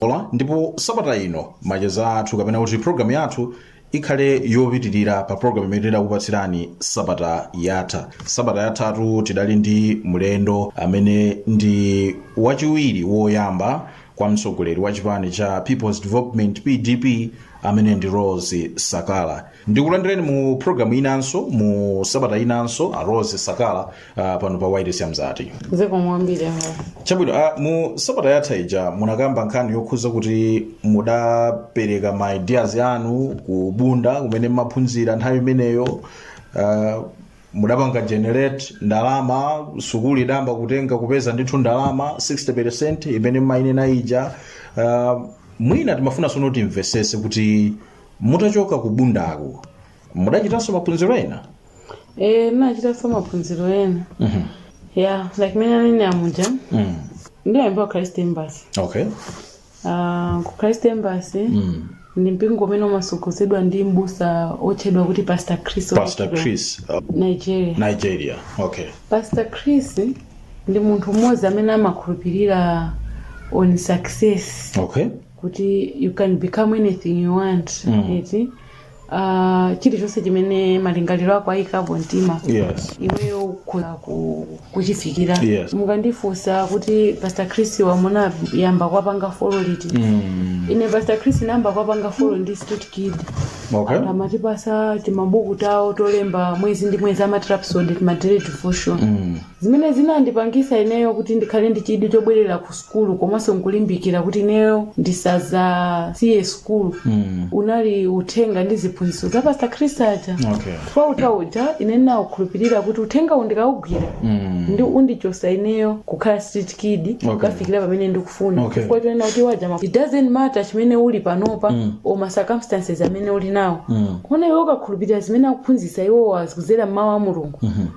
ola ndipo sabata ino macheza athu kapena kuti programu yathu ikhale yopitirira pa programu imene tidakupatsirani sabata yatha sabata yathatu tidali ndi mlendo amene ndi wachiwiri woyamba kwa mtsogoleri wa chipani cha peoples development pdp amene ndi rose sakala ndikulandireni mu programu inonso mu sabata inonso a rose sakala uh, pano pa wailesi ya mzati zikomo kwambiri awa chabwino uh, mu sabata yatha ija munakamba nkhani yokhuza kuti mudapereka ma ideas anu ku bunda kumene mmaphunzira nthawi imeneyo uh, mudapanga generate ndalama sukulu idayamba kutenga kupeza ndithu ndalama 60% imene mmainena ija uh, mwina timafuna sono timvesese kuti mutachoka ku bundako mudachitanso maphunziro ena Eh, ndinachitanso maphunziro ena Mhm. ya like mene anene amuja Mm. ndinayamba ku christ embassy okay Ah, ku christ embassy Mm. ndi mpingo umene umasogozedwa ndi mbusa otchedwa kuti pastor chris pastor chris uh, nigeria nigeria okay pastor chris ndi munthu mmodzi amene amakhulupirira on success okay kuti you can become anything you want Mm. eti uh, chilichonse chimene malingaliro ako ayikapo mtima yes iweyo ukhoza ku- kuchifikira Yes. mukandifunsa kuti pastor chris munayamba kuwapanga follow liti mm. ine pastor chris nayamba kuwapanga follow ndili street kid okay amatipasa timabuku tawo tolemba mwezi ndi mwezi amati rhapsody tima daily devotion mm. Zimene zinandipangisa ineyo kuti ndikhale ndi chidwi chobwerera ku sukulu komanso nkulimbikira kuti ineyo ndisadzasiye sukulu unali uthenga ndi ziphunzitso za Pastor Chris aja Okay. chifukwa uthenga uja ine ndinaukhulupirira kuti uthenga uwu ndikaugwira ndi undichosa ineyo kukhala street kid Okay. kukafikira pamene ndikufuna Okay. chifukwa chonena kuti waja ma- it doesn't matter chimene uli panopa or ma circumstances amene uli nawo koma iwe ukakhulupirira zimene akuphunzitsa iwowa kuzera mmawu a mulungu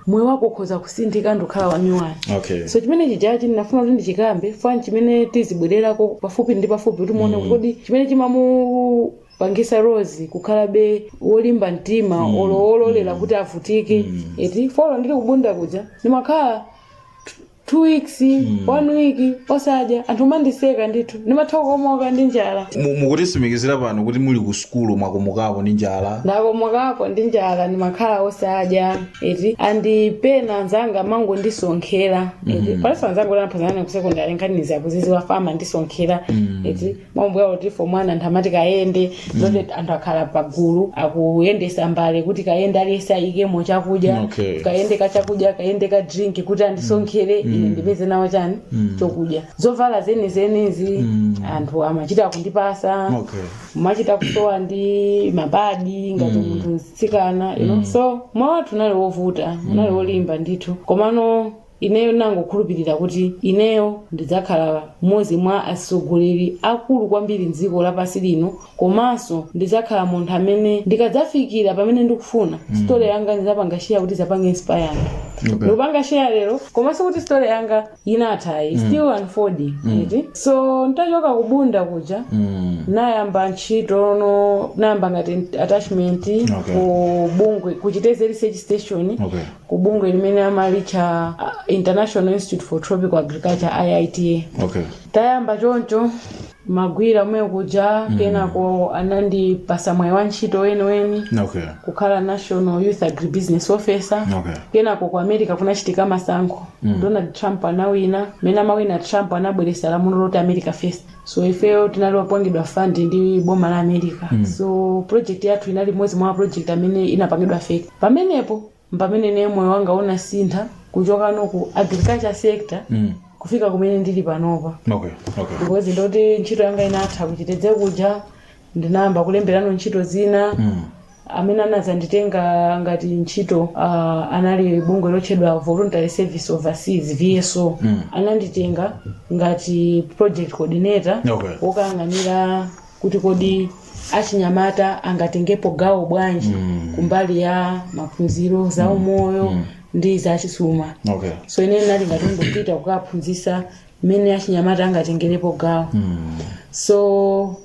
moyo wako ukhoza kusinthika nkukhala wanyuwani okay so chimene chijachi ndinafuna kuti ndichikambe fa ndi chimene tizibwererako pafupi ndi pafupi kuti muone kodi chimene chimamupangisa rose kukhalabe wolimba mtima olo ololera kuti avutike eti fa olo ndili kubunda kuja ndimakhala two weeks one week osadya anthu amandiseka ndithu ndimatha kukomoka ndi njala Mu- mukutisimikizira pano kuti muli ku sukulu mwakomokapo ndi njala ndakomokapo ndi njala ndimakhala osadya eti and pena anzanga amangondisonkhera eti palinso anzanga a tinaphunzirana ku sekondari nkhanizi akuziziwa fa amandisonkhera eti maumbwa oti for mwana anthu amati kayende zoti anthu akhala pagulu akuyendesa mbale kuti kayende aliyense aikemo chakudya Okay. kayende ka chakudya kayende ka drink kuti andisonkhere ine ndipeze nawo chani chokudya zovala zenizenizi anthu amachita kundipatsa Okay. machita kusowa ndi mapadi ngati munthu mtsikana you know? so moyo wathu unali wovuta unali wolimba ndithu komano Ineyo ndinangokhulupirira kuti ineyo ndidzakhala mmodzi mwa atsogoleri akulu kwambiri m'dziko lapansi lino komanso ndidzakhala munthu amene ndikadzafikira pamene ndikufuna, story yanga ndidzapanga share kuti idzapange inspire anthu. Okay. Ndikupanga share lero koma sikuti story yanga inatha ayi, still unfolding. eti? So ntachoka ku Bunda kuja nayamba ntchitono nayamba ngati attachment Okay. ku bungwe ku Chitedze research station Okay. ku bungwe limene amalitcha ah, international institute for tropical agriculture iita okay tayamba choncho magwira komwe kuja kenako anandipatsa mwayi wa ntchito weniweni okay kukhala national youth agribusiness officer okay kenako ku america kunachitika masankho donald trump anawina mmene amawina trump anabweretsa lamulo loti america first so ifeyo tinali opangidwa fund ndi boma la america mm. so project yathu inali imodzi mwa project amene inapangidwa affect pamenepo mpameneno moyo wanga unasintha kuchokano ku agriculture sector mm. kufika kumene ndili panopa okay okay because ndoti ntchito yanga inatha ku Chitedze kuja ndinayamba kulemberano ntchito zina amene anadzanditenga ngati ntchito ah, anali bungwe lotchedwa voluntary service overseas vso ananditenga ngati project coordinator Okay. wokayang'anira kuti kodi achinyamata angatengepo gawo bwanji kumbali ya maphunziro za umoyo ndi za chuma okay so ine ndinali ngati ndikupita kukaphunzitsa mmene achinyamata angatengerepo gawo so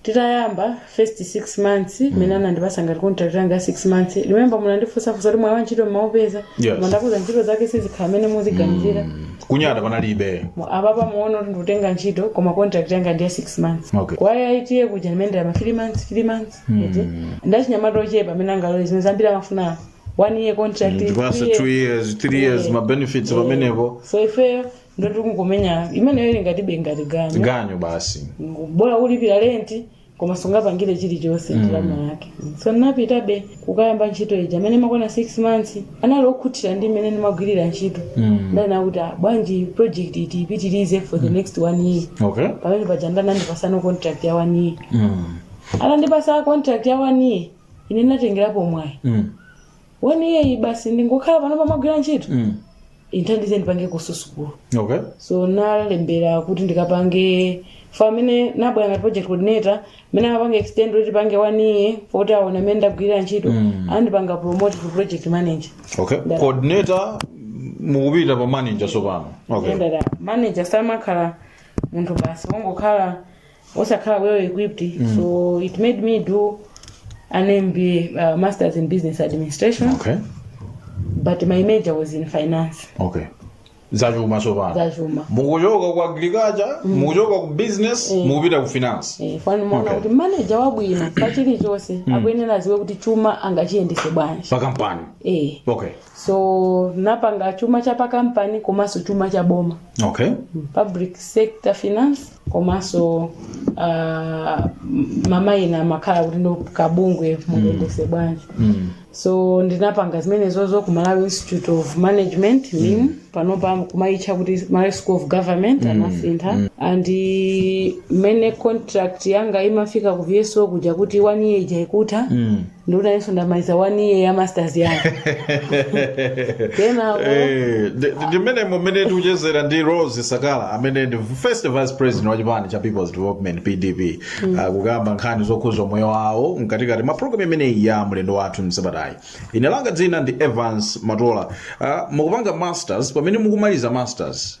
titayamba first 6 months mmene anandipatsa ngati contract yanga ya 6 months remember munandifunsa kuti mwayi wa ntchito mmaupeza Yes. koma ndakuza ntchito zake sizikhala mmene muziganizira kunyada panalibe Mu- apapa muona kuti ndikutenga ntchito koma contract yanga ndiya 6 months Okay. kwa IITA kuja ndimayendera ma 3 months 3 months eti ndachinyamata ochepa amene angalole zimenezo ambiri amafuna one year contract ndipatse two years three years ma benefits pamenepo so ifeyo ndoti kungomenya imeneyo ili ngatibe ngati ganyo ganyo basi bola ulipira lenti koma sungapangire chilichonse ndalama yake so ndinapitabe kukayamba ntchito ija mmene imakwana 6 months anali okhutira ndi mmene ndimagwirira ntchito nde anati "Ah, bwanji project iyi tipitirize for the next one year okay pamenepaja nde anandipatsano contract ya one year mm. atandipatsa contract ya one year ine ndinatengerapo mwayi mm. one year basi ndingokhala pano pamagwira ntchito Mm. indithandize ndipange kuso sukulu okay so nalembera kuti ndikapange for mmene nabwera ngati project coordinator mmene amapanga extend kuti tipange one year poti aona mmene ndagwirira ntchito Mm. anandipanga promote to project manager okay Ndala. coordinator mukupita pa manager sopano okay Ndala, manager samakhala munthu basi wongokhala osakhala well equipped mm. so it made me do an MBA uh, masters in business administration okay but my major was in finance okay zachuma tsopano zachuma mukuchoka ku agriculture mukuchoka ku business mukupita ku finance Eh, finally muona Okay. kuti maneja wabwino pa chilichonse akuyenera aziwe kuti chuma angachiyendetse bwanji pa kampani eh. okay so napanga chuma cha pakampani komanso chuma cha boma okay public sector finance komanso ah, mwamwayi ena amakhala kuti ndo kabungwe mungayendetse bwanji so ndinapanga zimenezozo ku malawi institute of management mim panopa kumayitcha kuti malawi school of government anasintha and mmene contract yanga imafika ku vso kuja kuti one year ija ikutha ndikuti ineso ndamaliza one year ya masters yanga kenako Eh, ndi- ndi- ndimmene mmene tikuchezera ndi rose sakala amene ndi first vice president wa chipani cha people's development pdp Ah, kukamba nkhani zokhuza moyo wawo mkatikati mwa programu imeneyi ya mlendo wathu msabatayi ine langa dzina ndi evans matola Ah, mukupanga masters pamene mukumaliza masters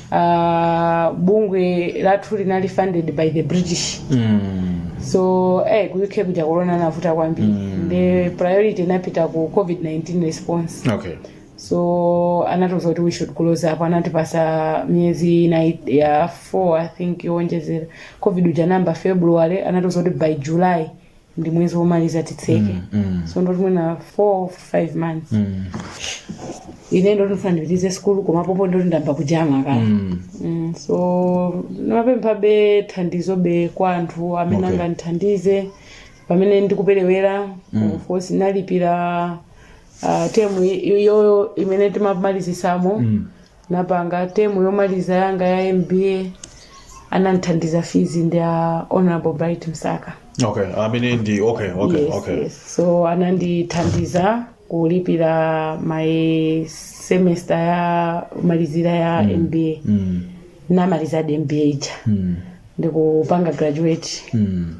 uh, bungwe lathu linali funded by the british so eh, ku uk kuja corona inavuta kwambiri mm. the priority inapita ku covid-19 response okay so anatiuza kuti we should close up anatipasa miyezi inayi ya four i think yowonjezera covid uja inayamba february anatiuza kuti by july ndi mwezi womaliza titseke Mm, mm. so ndi kuti mwina 4 5 months Mm, ine ndi kuti ndifuna ndipitirize sikulu koma pompo ndi kuti ndayamba kujana kale mm. Mm, so ndimapemphabe thandizobe kwa anthu amene Okay. angandithandize pamene ndikuperewera mm. of course nalipira uh, temu iyo imene timamalizisamo Mm. napanga term yomaliza yanga ya mba anandithandiza fees ndi a honorable bright msaka okay amene ndi okay okay yes, okay yes. so anandithandiza kulipira my semester yomalizira ya mm. mba mm. namalizadi mba ija mm. ndikupanga graduate mm.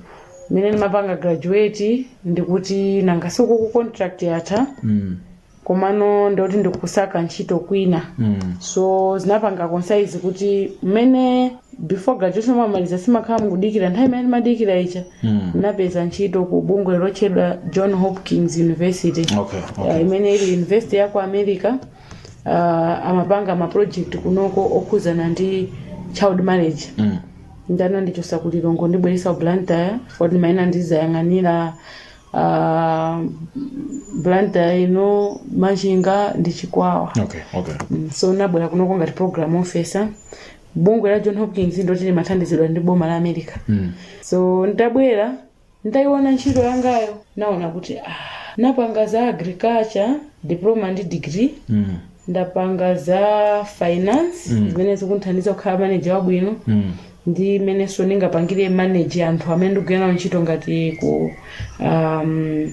mmene ndimapanga graduate ndikuti nanga si uku contract yatha mm. komano ndikuti ndikusaka ntchito kwina Mm. so zinapanga coincide kuti mmene before graduation mwamaliza si mumakhala mukudikira nthawi imene timadikira ija Mm. ndinapeza ntchito ku bungwe lotchedwa john hopkins university Okay, Uh, okay. imene ili university ya ku america uh, amapanga maproject kunoko okhuzana ndi child marriage Mm. nde anandichosa ku lilongwe kundibweresa ku blantyre kuti ma area ndizayang'anira uh, blantyre ino machinga ndi chikwawa okay okay Mm, so nabwera kunoko ngati program officer bungwe la john hopkins ndi loti limathandizidwa ndi boma la america mm. so nditabwera nditayiona ntchito yangayo naona kuti ah, napanga za agriculture diploma ndi degree Mm. ndapanga za finance zimene zikundithandiza kukhala manager wabwino Mm. ndi mmenenso ndingapangire manage anthu amene ndikugwira nawo ntchito ngati ku um,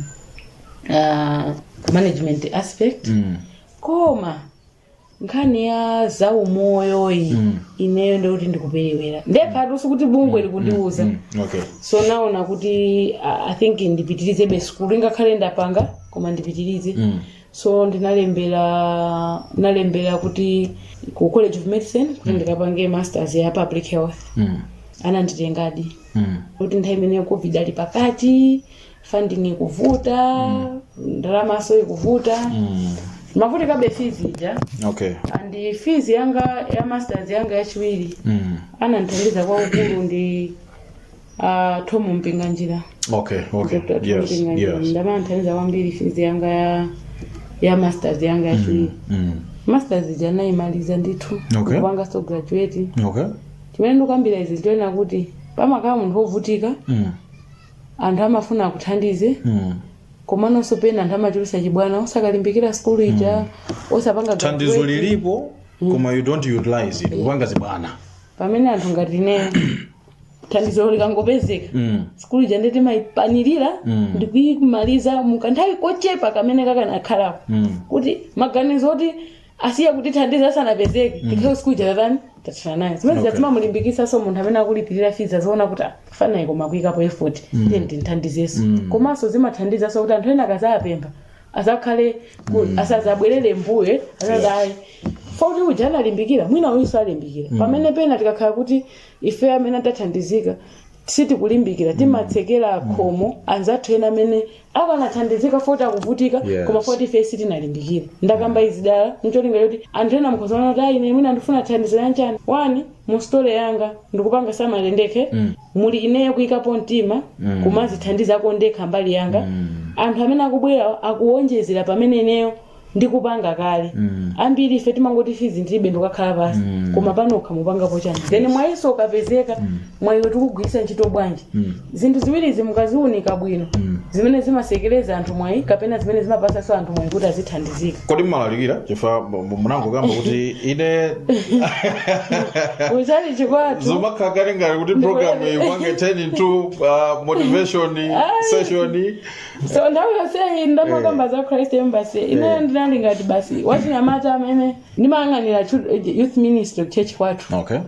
uh, management aspect Mm. koma nkhani ya zaumoyo iyi Mm. ineyo ndikuti ndikuperewera nde kukhala sikuti bungwe likundiuza Mm. okay so naona kuti uh, i think ndipitirizebe sukulu ingakhale ndapanga koma ndipitirize Mm. so ndinalembera ndinalembera kuti ku college of medicine kuti ndikapange masters ya public health Mm. ananditengadi Mm. kuti nthawi imene covid ali pakati funding ikuvuta ndalamanso ikuvuta Mm. timavutikabe fees ija okay and fees yanga ya masters yanga yachiwiri Mm. anandithandiza kwakukulu ndi Ah, Tom Mpinganjira. Okay, okay. Dr. Tom Yes, Mpinganjira. yes. Ndi amene ananthandiza kwambiri fees yanga ya ya masters yanga yachiwiri. Mm. Masters ija naimaliza ndithu. Okay. Kupanganso graduate. Okay. Chimene ndikukambira izi nchonena kuti pamakhala munthu wovutika Mm. anthu amafuna akuthandize Mm. komanso pena anthu amachulusa chibwana osalimbikira sukulu ija osapanga Thandizo graduate. lilipo koma you don't utilize it. Upanga zibwana. pamene anthu ngati ine thandizolo likangopezeka Mm. sukulu ija nde timayipanirira Mm. ndikuyimaliza mu kanthawi kochepa kamene kakanakhalapo Mm. kuti maganizo oti asiya kutithandiza asanapezeke tikhale sukulu ija tatani tathana nayo zimene Okay. zimamulimbikitsanso munthu amene akulipirira fees aziona kuti mfanayi koma akuyikapo effort tiye ndimuthandizenso komanso zimathandizanso kuti anthu ena akazapempha azakhale ku- asazabwerere mbuye azati ayi mfana uja analimbikira mwina uyunso alimbikira pamene pena tikakhala kuti ife amene tathandizika sitikulimbikira timatsekera khomo anzathu ena amene akanathandizika foti akuvutika Yes. koma foti ife sitinalimbikire ndakamba izi dala ncholinga choti anthu ena mukhozaona kuti ayi ine mwina ndifuna thandizo anchani wani mu story yanga ndikupanga summarize ndekuti muli ineyo kuyikapo mtima kumazithandizako ndekha mbali yanga anthu amene akubwerawo akuwonjezera pamene ineyo ndikupanga kale Mm. ambiri ife timangoti fizi ndilibe ndikukhala pasi Mm. koma panokha mupangapo chani then mwayiso ukapezeka mwayiwo tikugwiritsa ntchito bwanji Mm. zinthu ziwirizi mukaziunika bwino Mm. zimene zimasekereza anthu mwayi kapena zimene zimapasaso anthu mwayi kuti azithandizika kodi mmalalikira chifukwa mu- mu- munangokamba kuti ine kutchalitchi kwathu zomakhala kale ngati kuti program iyi ipange turn into uh, motivation session so nthawi yonseyi ndimakamba za christ embassy ineyo ndinali ngati m'busa wachinyamata amene ndimayang'anira chu- youth ministry church kwathu okay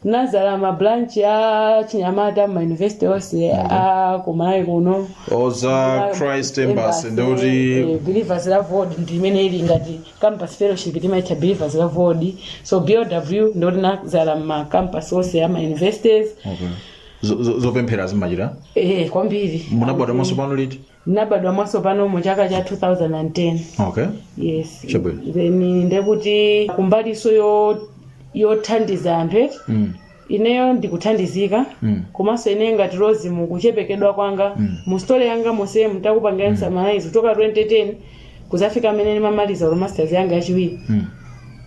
ndinadzala mabranch a chinyamata m'mayunivesiti onse a kumalawi kuno a christ embassy ndekuti believers loveworld ndi imene ili ngati campus fellowship timaitcha believers loveworld so BLW ndekuti ndinadzala m'macampus onse a mayunivesities okay Zo- zo- zopemphera zimachitika eh kwambiri munabadwa mwatsopano liti ndinabadwa mwatsopano mu chaka cha 2010 okay yes Chabwino. then ndekuti kumbaliso yo yothandiza anthu eti mm. ineyo ndikuthandizika Mm. komanso ine ngati Rose mukuchepekedwa kwanga mu story yanga momwe ndakupangira mm. summarize kuchoka 2010 kuzafika pamene ndimamaliza olo masters yanga yachiwiri Mm.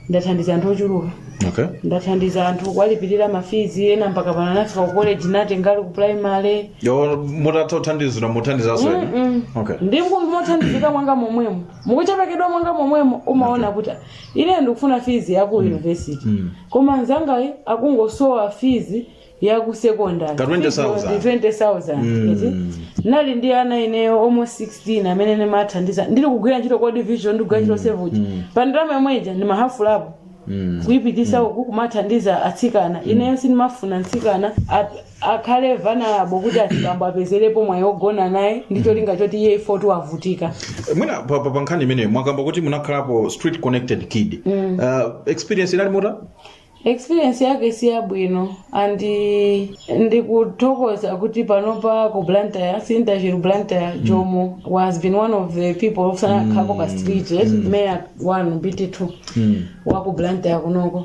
ndathandiza anthu ochuluka okay ndathandiza anthu kuwalipirira mafizi ena mpaka pano anafika ku college ndinawatenga ali ku primary inu mutathandizidwa muthandizaso ena Mm-mm. okay ndekuti mukuthandizika mwanga momwemo mukuchepekedwa mwanga momwemo umaona kuti ine ndikufuna fizi ya ku university Mm. koma nzangayi akungosowa fizi ya ku secondary Ka 20,000. Ndi 20,000 Mm. eti? ndinali ndi ana ineyo almost 16 amene ndimathandiza ndili kugwira ntchito kwa World Vision ndikugwira ntchito Save the Children pa ndalama yomwe ija ndimahafulapo Mm. kuyipitisa uku kumathandiza atsikana ineyo sindimafuna mtsikana ap- akhale vulnerable kuti azibambo apezerepo mwayi ogona naye ndi cholinga choti iye foti wavutika mwina pa, pa, pa nkhani imeneyo mwakamba kuti munakhalapo street connected kid uh, experience inali motani Experience yake siyabwino and ndikuthokoza kuti panopa ku Blantyre Sintachiru Blantyre Jomo has been one of the people oti anakhalako ku street eh, mayor wanu BT2 wa ku Blantyre kunoko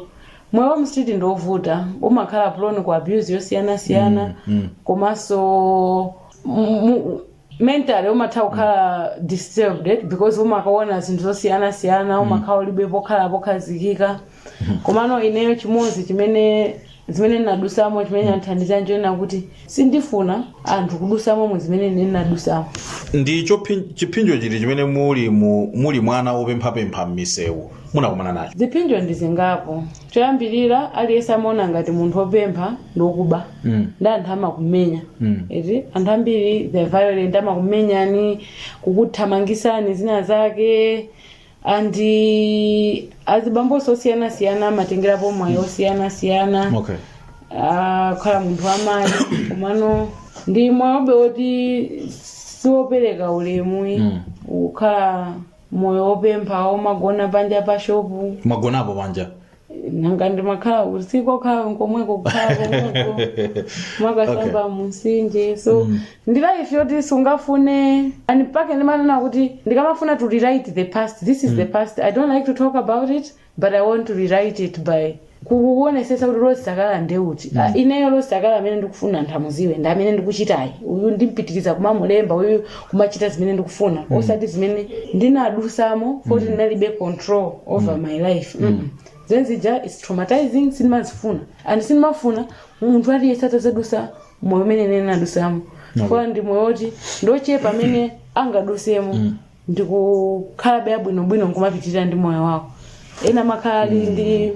moyo wa mstreet ndi wovuta umakhala prone ku abuse yosiyanasiyana komanso mu- mu- mentally umatha kukhala disturbed because umakaona zinthu zosiyanasiyana umakhala ulibe pokhala pokhazikika komano ineyo chimodzi chimene zimene ndinadusamo chimene chandithandiza nchoona kuti sindifuna anthu kudusamo mu zimene ine ndinadusamo ndi chophi- chiphinjo chiti chimene muli mu- muli mwana wopemphapempha m'misewu munakumana nacho ziphinjo ndi zingapo choyambirira aliyense amaona ngati munthu wopempha ndiokuba Mm. ndi anthu amakumenya Mm. eti anthu ambiri they're violent amakumenyani kukuthamangisani zina zake and azibambonso osiyanasiyana amatengerapo mwayi osiyanasiyana okay Ah, kukhala munthu wamayi komano ndi moyobe woti siwopereka ulemu Mm. ukhala moyo wopempha womagona panja pa shopu mwagonapo panja nanga ndimakhala usiku kokhala nkomweko kukhala komweko kumakasamba mumtsinje so ndi life yoti sungafune and mpake ndimanena kuti ndikamafuna to rewrite the past this is the past i don't like to talk about it but i want to rewrite it by kukuonesetsa kuti rose sakala ndi uti mm. uh, ineyo rose sakala amene ndikufuna anthu amuziwe ndi amene ndikuchitayu uyu ndimpitiriza kumamulemba uyu kumachita zimene ndikufuna mm. osati zimene ndinadusamo foti mm. ndinalibe control over mm. my life mm. mm. zinthu zija its traumatizing sindimazifuna and sindimafuna munthu aliyense atazadusa moyo umene ine ndinadusamo chifukwa ndi moyo woti ndiochepa amene angadusemo mm. ndikukhalabe abwinobwino nkumapitirira ndi moyo wako ena amakhala ali ndi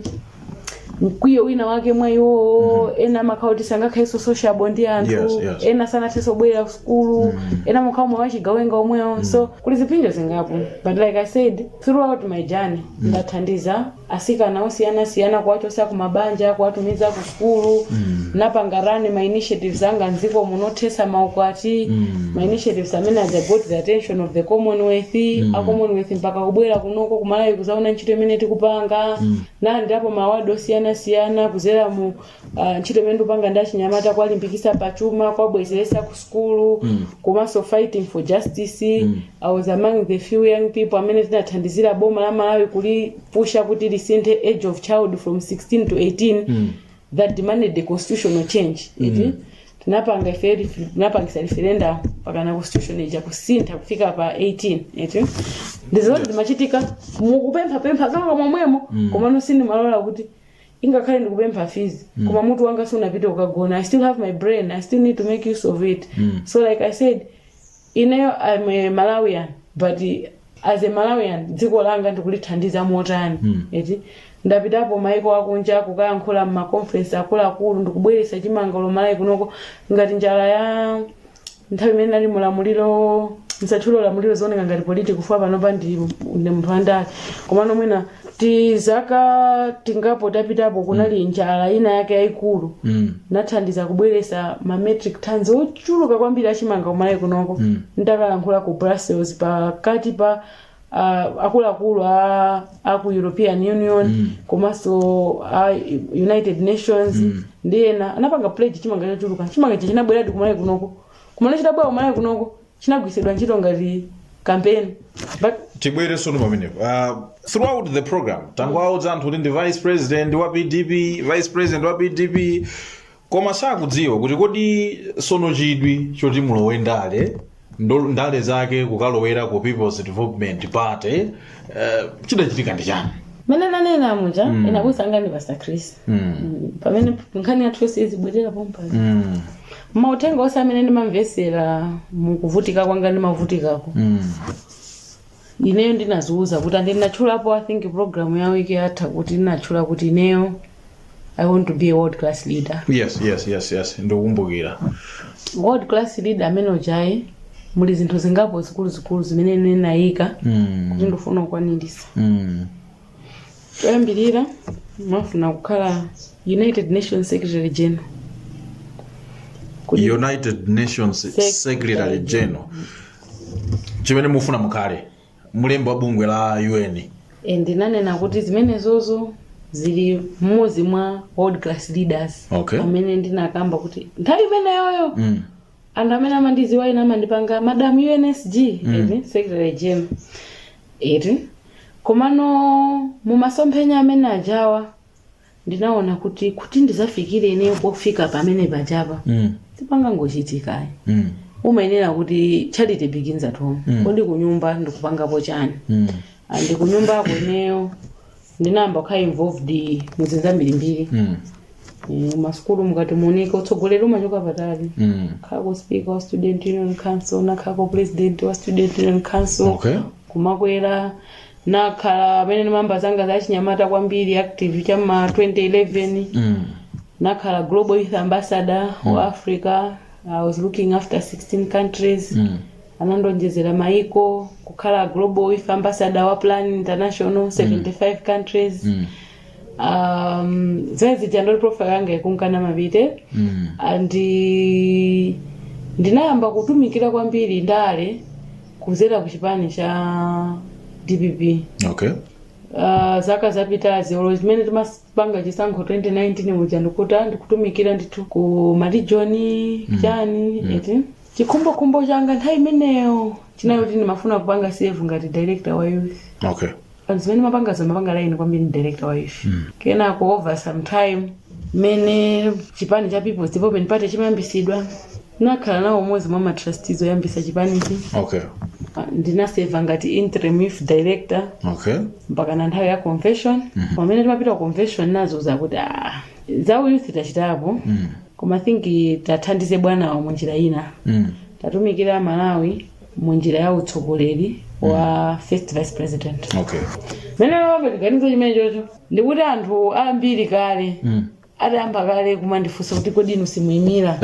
mkwiyo wina wake mwa iwowo ena amakhala kuti sangakhalenso sociable ndi anthu Yes, yes. ena sangathenso kubwerera kusukulu ena amakhala moyo wachigawenga womwewo so kuli ziphinjo zingapo but like i said throughout my journey ndathandiza asikana osiyanasiyana kuwachosa ku mabanja kuwatumiza ku sukulu mm. napanga run ma initiatives anga mdziko muno othesa maukwati mm. ma initiatives amene I got the attention of the commonwealth mm. a commonwealth mpaka kubwera kunoko kumalawi kuzaona ntchito imene tikupanga mm. nalandirapo ma award osiyanasiyana kuzera mu Uh, ntchito imene ndikupanga ndi achinyamata kuwalimbikisa pa chuma kuwabwezeresa ku sukulu mm. komanso fighting for justice mm. i was among the few young people amene tinathandizira boma la malawi kulipusha kuti lisinthe age of child from 16 to 18 mm. that demanded the constitutional change mm. eti tinapanga ife refer- tinapangisa referendum mpakana constitution ija kusintha kufika pa 18 eti ndizoti zimachitika mukupemphapempha kwanga momwemo mm. komano sindimalola kuti ingakhale ndikupempha fees mm. koma mutu wanga sunapite kukagona i still have my brain i still need to make use of it mm. so like i said ineyo i'm a malawian but as a malawian dziko langa ndikulithandiza motani mm. eti ndapitapo maiko akunja kukayankhula mmaconference akuluakulu ndikubweretsa chimangalo malawi kunoko ngati njala ya nthawi imene nali mulamuliro ndisatchule ulamuliro zioneka ngati politiki chifukwa panopa ndi ndi munthu wandale komano mwina tizaka tingapo tapitapo kunali njala ina yake yayikulu Mm. nathandiza kubweresa ma metric tons ochuluka kwambiri achimanga kumalawi kunoko ndakalankhula ku brussels pakati pa uh, akuluakulu a, a ku european union mm. komanso a united nations mm. ndi ena anapanga pledge chimanga chochuluka chimanga ichi chinabweradi kumalawi kunoko kumalawi chitabwera kumalawi kunoko chinagwiritsidwa ntchito ngati kampeni but tibwere sono pamenepo uh, throughout the program tangwaudza anthu kuti ndi vice president wa pdp vice president wa pdp koma sakudziwa kuti kodi sono chidwi choti mulowe ndale nda- ndale zake kukalowera ku peoples development party eh, chidachitika ndi chani mene nanena muja mm. ine abusa anga ndi pastor chris mm. Mm, pamene nkhani yathu yonse izibwerera pompano mm. mautenga onse amene ndimamvesera mukuvutika kwanga ndimavutikako mm. ineyo ndinaziuza kuti and ndinatchulapo i think program ya wiki yatha kuti ndinatchula kuti ineyo i want to be a world class leader yes yes yes yes ndikukumbukira world class leader ameneujayu muli zinthu zingapo zikuluzikulu zimene ine ndinayika kuti ndifuna kukwanirisa choyambirira ndimafuna kukhala united nations secretary general Kuti- united nations Sec- secretary general chimene mufuna mukhale mulembi wa bungwe la un e, ndinanena kuti zimenezozo zili mmodzi mwa world class leaders Okay. amene ndinakamba kuti nthawi imeneyoyo mm. anthu amene amandiziwa ine amandipanga madam unsg eti secretary general eti komano mumasomphenya amene ajawa ndinaona kuti kuti ndizafikire ineyo pofika pamenepajapa Mm. sipangangochitikayi Mm. umayenera kuti charity begins at home Mm. kodi kunyumba ndikupangapo chani Mm. Ah, ndi kunyumbako ineyo ndinayamba kukhala involved muzinthu zambirimbiri Mm. Eh, masukulu mukuti muoneke utsogoleri umachoka patali Mm. nakhako speaker wa student union council nakhako president wa student union council Okay. kumakwera nakhala pamene ndimayamba zanga za chinyamata kwambiri active cha ma 2011 Mm. nakhala global youth ambassador mm. wa africa i was looking after 16 countries Mm. anandonjezera maiko kukhala global youth ambassador wa plan international 75 countries Mm. um, zinthu zija ndoti profile yanga ikunka nimapita Mm. and eh, ndinayamba kutumikira kwambiri ndale kudzera ku chipani cha dpp okay uh, zaka zapitazi olo zimene timapanga chisankho 2019 muja ndikuta ndikutumikira ndithu ku ma region chani eti chikhumbokhumbo changa nthawi imeneyo chinali choti ndimafuna kupanga serve ngati director wa youth okay pali zimene ndimapangazo zimapanga align kwambiri ndi director wa youth kenako over some time mmene chipani cha people's development party chimayambisidwa nakhala nawo m'modzi mwa matrustees oyambisa chipanichi okay Ah, ndinaserva ngati interim youth director okay mpaka na nthawi ya convention pamene timapita ku convention ndinaona zakuti ah, za uyouth tachitapo koma think tathandize bwanawo mu njira ina tatumikira malawi mu njira ya utsogoleri wa first vice president okay mene ndimapanga chiganizo chimenecho ndikuti anthu ambiri kale adayamba kale kumandifunsa kuti kodi inu simuyimira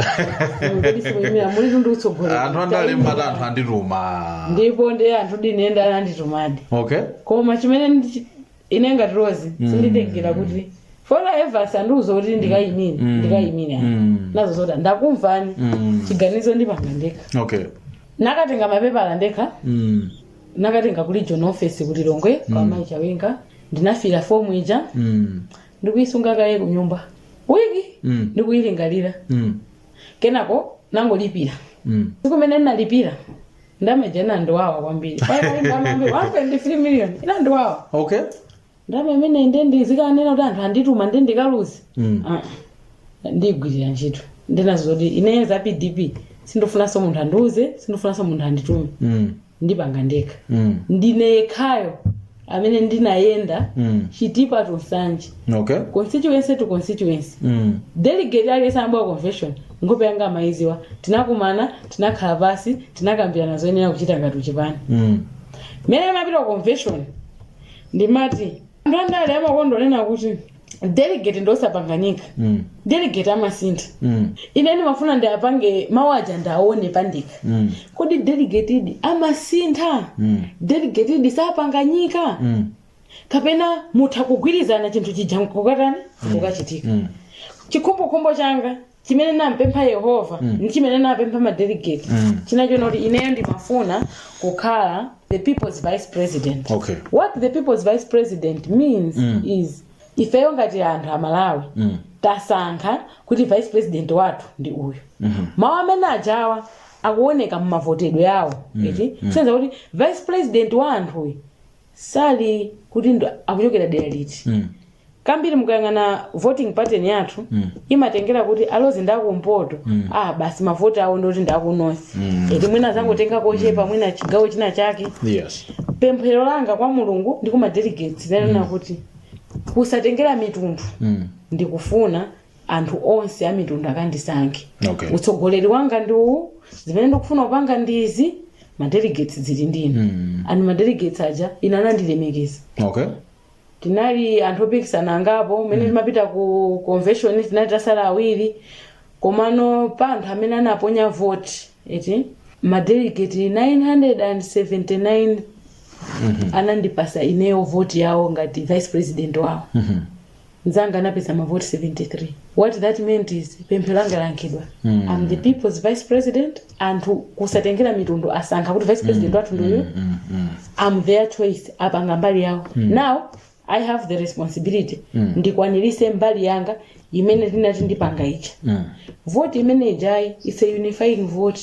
Inu kodi simuyimira mulitu ndi utsogoleri anthu andale amati anthu andituma ndipo ndi anthu ndinene ananditumadi okay koma chimene ndichi- ine ngati Rose sinditengera kuti followers andiuza kuti ndikayimire ndikayimire Mm. ndinawauza zoti ndakumvani Mm. chiganizo ndipanga ndekha okay nakatenga mapepala ndekha Mm. nakatenga ku region office ku Lilongwe kwa mayi Chawinga ndinafilla fomu ija Mm. ndikuyisunga kaye kunyumba wiki Mm. ndikuyilingalira Mm. kenako nangolipira Mm. tsiku limene ndinalipira ndalama ija inandiwawa kwambiri paja ndalama yambiri 1.3 million inandiwawa okay ndalama imene nde ndizikanena kuti anthu andituma nde ndikaluze Mm. Ah, ndigwirira ntchito ndinawauza zoti ineyo za pdp sindifunanso munthu andiuze sindifunanso munthu anditume Mm. ndipanga ndekha Mm. ndine yekhayo amene ndinayenda Mm. chitipa to nsanje okay constituency to constituency Mm. delegate aliyense amabwera convention nkhope yanga amayiziwa tinakumana tinakhala pansi tinakambirana zoyenera kuchita ngati uchipani Mm. mmene ndimapita ku convention ndimati anthu andale amakonda kunena kuti delegate ndiosapanganika Mm. delegate amasintha Mm. ine ndimafuna ndiwapange mawu aja ndiwaone pandekha Mm. kodi delegatedi amasintha Mm. delegatedi sapanganika Mm. kapena mutha kugwirizana chinthu chija nkukatani kukachitika Mm. chikhumbokhumbo changa chimene nampempha yehova Mm. ndi chimene napempha madelegate Mm. chinali chonena kuti ineyo ndimafuna kukhala the people's vice president okay what the people's vice president means Mm. is ifeyo ngati anthu amalawi mm. tasankha kuti vice president wathu ndi uyu Mhm. mawu amene ajawa akuoneka mumavotedwe awo eti kusonyeza kuti vice president wa anthuyu sali kuti nde akuchokera dera liti Mm. kambiri mukayang'ana voting pattern yathu Mm. imatengera kuti awa ndi akumpoto Mm. ah basi mavoti awo ndoti ndi akunosi Mm. eti mwina azangotenga kochepa mwina chigawo china chake yes pemphero langa kwa mulungu ndi kuma delegates inanena kuti kusatengera mitundu Mm. ndikufuna anthu onse amitundu akandisankhe Okay. utsogoleri wanga ndi uwu zimene ndikufuna kupanga ndi izi madelegates zili ndinu mm. and madelegates aja inde anandilemekeza okay tinali anthu opikisana angapo mmene timapita ku convention tinali tasala awiri komano pa anthu amene anaponya vote eti madelegate 979 anandipasa ineyo vote yawo ngati vice president wawo nzanga anapeza mavoti 73 what that meant is pemphero langa layankhidwa mm. am the people's vice president anthu kusatengera mitundu asankha kuti vice president wathu ndi uyu Mm, mm. am their choice apanga mbali yawo now i have the responsibility ndikwanirise mbali yanga imene ndinati ndipanga icha Mm. voti imene ijayi is a unifying vote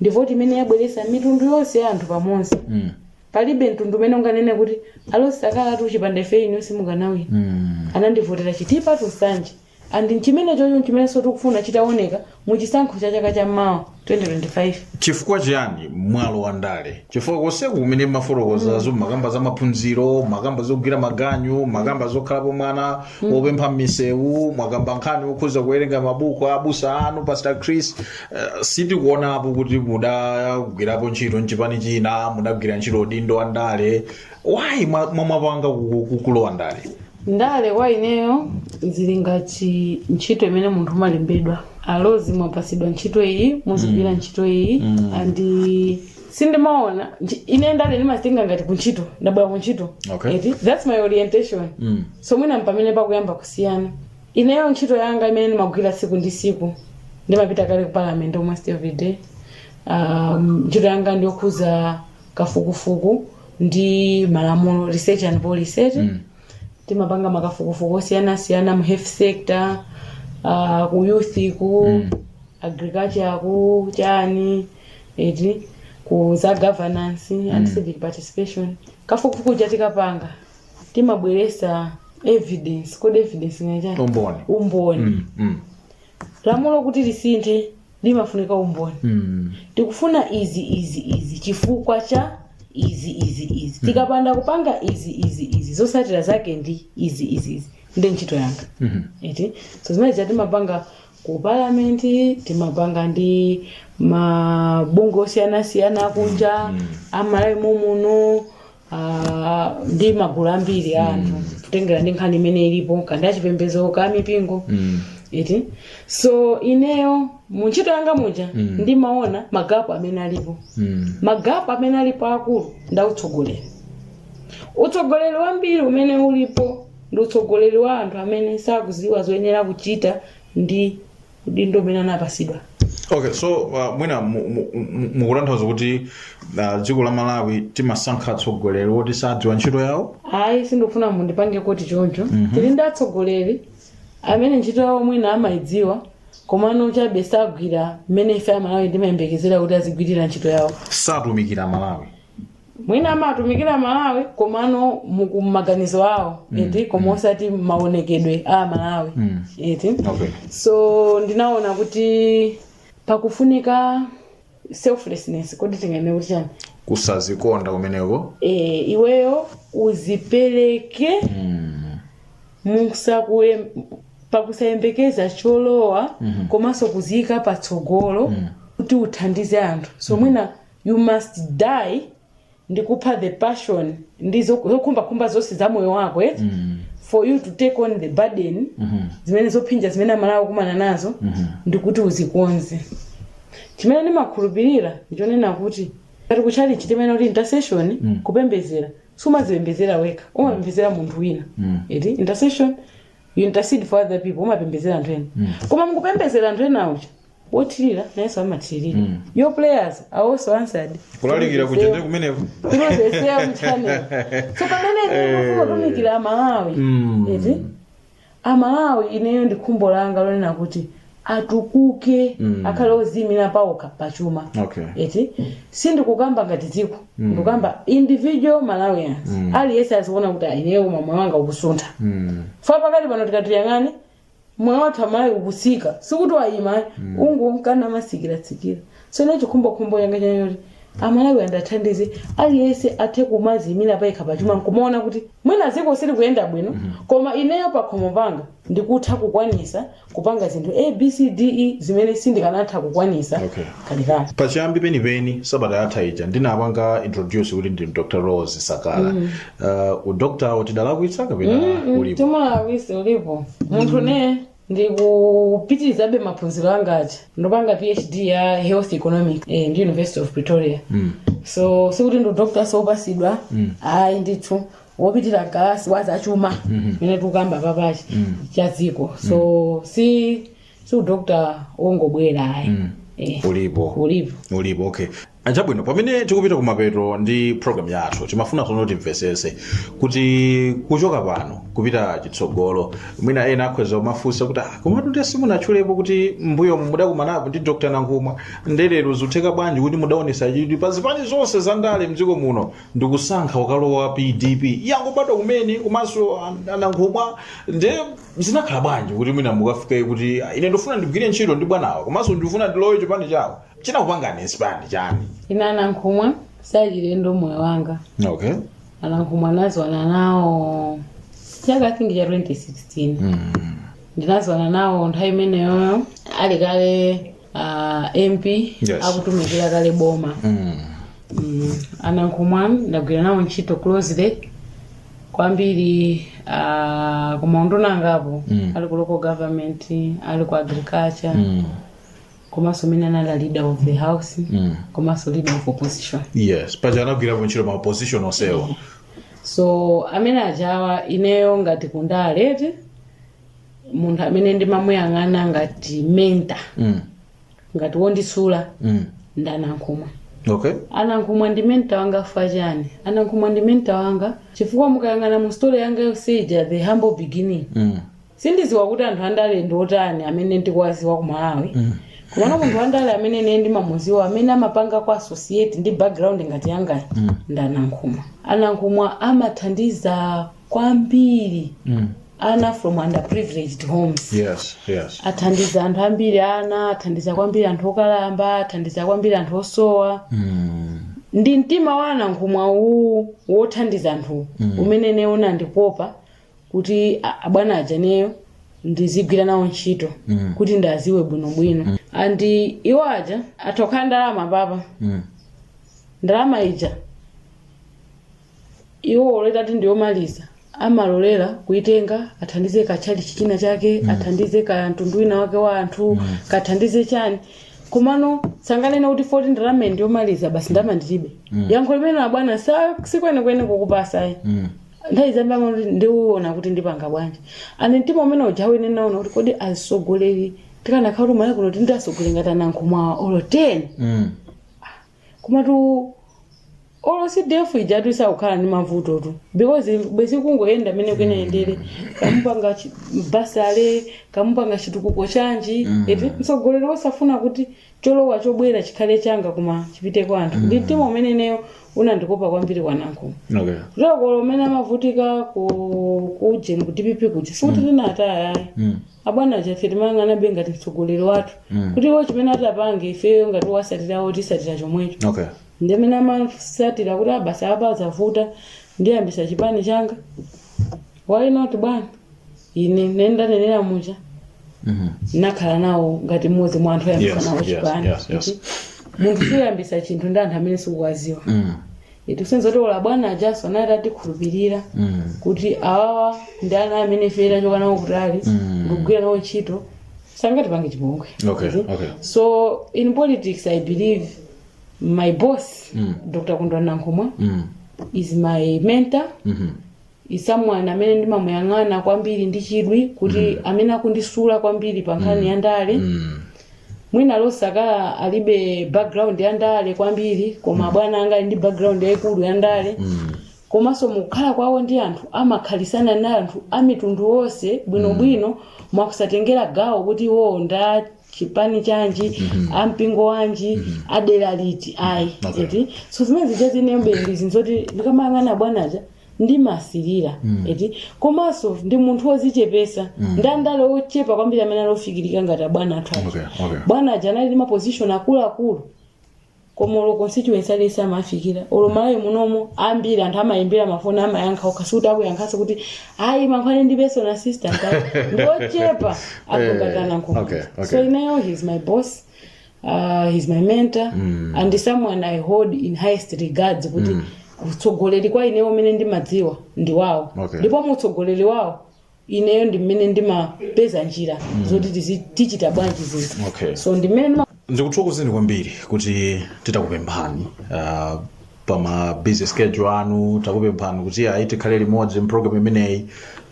ndi voti imene yabweresa mitundu yonse ya anthu pamodzi Mm. palibe mtundu umene unganene kuti awa sakanatha chipanda ife inu simukanawina Mm. anandivotera chitipa to nsanje and nchimene chocho nchimenenso tikufuna chitaoneka mu chisankho cha chaka cha mawa 2025 chifukwa chiyani mwalo wa ndale chifukwa konseku kumene mwafotokozazo mwakamba za maphunziro mwakamba zogwira maganyu mwakamba zokhalapo mwana wopempha m'misewu mwakamba nkhani yokhuza kuwerenga mabuku a abusa anu pastor chris Eh, sitikuonapo kuti mudagwirapo ntchito mchipani china mudagwira ntchito udindo wa ndale why mwapanga zolowa ndale ndale kwa ineyo zili ngati ntchito imene munthu umalembedwa alo mwapasidwa ntchito iyi muzigwira ntchito iyi and sindimaona nchi- ine ndale ndimazitenga ngati kuntchito ndabwera kuntchito Okay. eti that's my orientation Mm. so mwina mpamene pakuyamba kusiyana Ineyo ntchito yanga imene ndimagwira tsiku ndi tsiku ndimapita kale ku parliament almost every day um, ntchito yanga ndiyokhuza kafukufuku ndi malamulo research and policy eti mm. timapanga makafukufuku osiyanasiyana mu health sector uh, ku youth ku mm. agriculture ku chani eti ku za governance mm. and civic participation kafukufuku uja tikapanga timabweresa evidence kodi evidence ndi chani umboni umboni mm, mm, lamulo kuti lisinthe limafunika umboni mm. tikufuna izi izi izi chifukwa cha izi izi izi tikapanda kupanga izi izi izi zosatira zake ndi izi izi izi ndi ntchito yanga Mhm. eti so zimene zija timapanga ku palamenti timapanga ndi mabungwe osiyanasiyana akunja amalawi momuno Ah, ndi magulu ambiri a anthu kutengera ndi nkhani imene ilipo kandi achipembedzo ka mipingo Mm. iti so ineyo mu ntchito yanga muja Mm. ndimaona magapu amene alipo Mm. magapu amene alipo akulu ndi a utsogoleri utsogoleri wambiri umene ulipo ndi utsogoleri wa anthu amene sakuziwa zoyenera kuchita ndi udindo umene anapasidwa okay so uh, mwina mu- mu- mu- mukutanthauza kuti uh, dziko la malawi timasankha atsogoleri woti sadziwa ntchito yawo ayi sindikufuna mundipange quote choncho tili ndi atsogoleri amene ntchito yawo mwina amayidziwa komano chabe sagwira mmene ife amalawi timayembekezera kuti azigwirira ntchito yawo satumikira malawi mwina amatumikira malawi komano muku- maganizo awo eti koma osati maonekedwe a malawi Mm. eti okay so ndinaona kuti pakufunika selflessness kodi tinganene kuti chani kusazikonda kumeneko e, iweyo uzipereke Mm. pakusayembekeza cholowa komanso kuziyika patsogolo kuti uthandize anthu so mwina You must die ndi kupha the passion ndi zo- zokhumbakhumba zonse za moyo wako eti mm. for you to take on the burden mm-hmm. zimene zophinja zimene amalawi akumana nazo mm-hmm. ndi kuti uzikonze chimene ndimakhulupirira ndichonena kuti ngati kutchalitchi timanena kuti intercession mm. kupembezera sumazipembezera wekha umapembezera munthu wina mm. eti intercession you intercede for other people umapembezera anthu ena mm. koma mukupembezera anthu ena uja wothirira nayenso amathiririra Mm. your prayers are also answered kulalikira kuja ndi kumeneko through the same channel so pamene ndikufuna kutumikira amalawi Mm. eti amalawi ineyo ndi khumbo langa lonena kuti atukuke Mm. akhale oziyimira pawokha pachuma okay eti sindikukamba ngati dziko ndikukamba individual malawians aliyense aziona kuti ayi ineyo koma moyo wanga ukusuntha Mm. chifukwa pakati pano tikati tiyang'ane moyo wathu amalawi ukusika sikuti wayima ayi ukungonka numasikirasikira tsono chikhumbokhumbo changa n'chonena kuti amalawi ndiwathandize aliyense athe kumaziyimira payekha pachuma nkumaona kuti mwina dziko silikuyenda bwino koma ineyo pakhomo panga ndikutha kukwanisa kupanga zinthu abcde zimene sindikanatha kukwanisa Okay. kalikali pachiyambi penipeni sabata yatha ija ndinapanga introduce kuti ndi dr rose sakala uh, udokta uja tidalakwitsa kapena ulipo simunalakwitse ulipo munthu ne ndikupitirizabe maphunziro anga aja ndinapanga phd ya health economics eh, ndi university of pretoria Mm. so sikuti ndi udokta wopasidwa ayi ndithu wopitira mkalasi waza chuma mene tikukamba apapa chuma cha dziko so si si udokta ongobwera ayi Eh, ulipo ulipo ulipo okay Chabwino, pamene tikupita kumapeto ndi program yathu timafuna tsono timvesese kuti kuchoka pano kupita chitsogolo mwina ena akhoza kumafunsa kuti "Ah, komatu ndiye simunatchulepo kuti m'mbuyo mudakumanapo ndi dr nankhumwa nde lero zutheka bwanji kuti mudaonesa chidwi pa zipani zonse za ndale mdziko muno ndikusankha kukalowa pdp yangobadwa kumene komanso ah, nankhumwa nde zinakhala bwanji kuti mwina mukafike kuti "Ah, ine ndifuna ndigwire ntchito ndi bwanawa komanso ndifuna ndilowe chipani chawo chinakupangani inspire chani ine anankhumwa si achilendo mmoyo wanga okay anankhumwa ndinaziwana nawo chaka i think cha 2016 ndinaziwana nawo nthawi imeneyoyo ali kale ah, mp Yes. akutumikira kale boma Mm, anankhumwa ndagwira nawo ntchito closely kwambiri ah, ku maunduna angapo ali ku local government ali ku agriculture komanso mene anali a leader of the house mm. komanso leader of opposition yes paja anagwirapo ntchito ma position onsewo so amene aja ineyo ngati kundale eti munthu amene ndimamuyang'ana ngati mentor mm. ngati wondisula mm. ndi anankhumwa okay anankhumwa ndi mentor wanga chifukwa chani anankhumwa ndi mentor wanga chifukwa mukayang'ana mu story yanga yonse ija the humble beginning mm. sindiziwa kuti anthu andale ndi otani amene ndikuwaziwa ku malawi komano munthu wandale amene ine ndimamuziwa amene amapanga associate ndi background ngati yangayi ndi anankhumwa anankhumwa amathandiza kwambiri ana from underprivileged homes yes yes athandiza anthu ambiri ana athandiza kwambiri anthu okalamba athandiza kwambiri anthu osowa ndi mtima wa anankhumwa uwu wothandiza anthu umene ineyo unandikopa kuti a- abwana aja ineyo ndizigwira nawo ntchito Mm. kuti ndiwaziwe bwinobwino mm. and iwo aja atha kukhala ndi ndalama apapa Mm. ndalama ija iwo olo itati ndiyomaliza amalolera kuitenga athandize katchalitchi china chake mm. athandize ka mtundu wina wake wa anthu mm. kathandize chani komano sanganene kuti Fortune ndalama iyi ndiyomaliza basi ndalama ndilibe mm. yankho limene abwana sa sikwenikweni kukupasayi Mm. nthawi zambiri amati ndiona kuti ndipanga bwanji and mtima umene uja ine ndinaona kuti kodi azisogoleri tikanakhala kuti Malawi kuno tili ndi asogoleri ngati anankhumwa olo 10 Mm. komatu olo cdf ijatu isakukhala ndi mavutotu because bwezi kungoyenda amene kuyenayendere akamapanga chi- bursary akamapanga chitukuko chanji eti mtsogoleri wosafuna kuti cholowa chobwera chikhale changa koma chipite kwa anthu ndi mtima umene ineyo unandikoka kwambiri kwa nankhumwa okay olo ko mmene amavutika ku ku ujeni ku dpp kuja sikuti tinataya ayi mm. abwana aja ife timayang'anabe ngati mtsogoleri wathu Mm. kuti iwo chimene atapange ifeyo ngati owasatirawo tisatira chomwecho okay ndimene amasatira kuti apa zavuta ndiyambisa chipani changa why not bwana ine mmene ndanenera muja nakhala nawo ngati mmodzi mwa anthu oyambisa Yes, nawo yes, chipani yes, yes. Kuti munthu suyambisa chinthu ndi anthu amene sukuwaziwa Mm. zikusonyeza kuti olo bwana ajaso anali atikhulupirira Mm. kuti awawa ndi ana amene ife tachoka nawo kutali Mm. ndikugwira nawo ntchito sangatipange chipongwe Okay, Kuti? okay. so in politics i believe my boss Mm. dr kondwani nankhumwa Mm. is my mentor Mhm. is someone amene ndimamuyang'ana kwambiri ndi chidwi kuti mm. amene akundisula kwambiri pa nkhani mm. ya ndale mm. mwina rose sakala alibe background ya ndale kwambiri koma mm. abwana anga ali ndi background yayikulu ya ndale mm. komanso mukukhala kwawo ndi anthu amakhalisana ndi anthu amitundu onse bwinobwino mm. mwa kusatengera gawo kuti iwowo nda chipani chanji mm-hmm. ampingo wanji mm-hmm. adera liti ayi okay. so zimene zija zinenso ndi zinthu zoti ndikamayang'ana abwana aja ndimasilira eti komanso ndi munthu wozichepesa ndi andale ochepa kwambiri amene ali ofikirika ngati abwana athu aja. Okay, okay. abwana aja anali ndi mapozishoni akuluakulu koma olo ku constituency aliyense amafikira olo mmalawi munomo ambiri anthu amayimbira mafoni amayankha okha sikuti akuyankhanso kuti ayi yankhulani ndi personal assistant ayi. ndi ochepa akunga a Eh, okay, nankhumwa okay. so ineyo he is my boss uh, he's my mentor mm. and someone i hold in highest regards kuti mm. utsogoleri kwa ineyo umene ndimadziwa ndi wawo Okay. ndipo mu utsogoleri wawo ineyo ndi mmene ndimapeza njira mm. zoti tizi- tichita bwanji zinthu Okay. so ndi mmene ndima ndikuthokozeni kwambiri kuti titakupemphani uh, pa ma busy schedule anu takupemphani kuti ayi tikhale limodzi mprogram imeneyi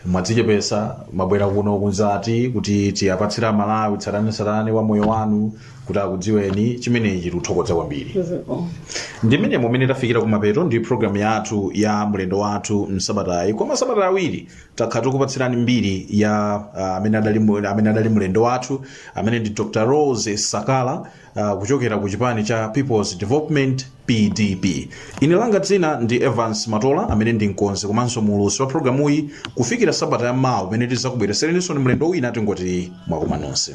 mwadzichepesa mwabwera kuno kuzati kuti tiwapatsire amalawi tsatanetsatane wa moyo wanu kuti akudziweni chimenechi tikuthokoza kwambiri ndi mmenemu mmene tafikira kumapeto a programu yathu ya mlendo wathu msabatayi kwa masabata awiri takhala tikupatsirani mbiri ya ah, amene adali mu- amene adali mlendo wathu amene ndi dr rose sakala uh, kuchokera ku chipani cha peoples development pdp ine langa dzina ndi evans matola amene ndi mkonzi komanso muulutsi wa programuyi kufikira sabata ya mawa pamene tizakubweresereninsoni mlendo wina tingoti mwakoma nonse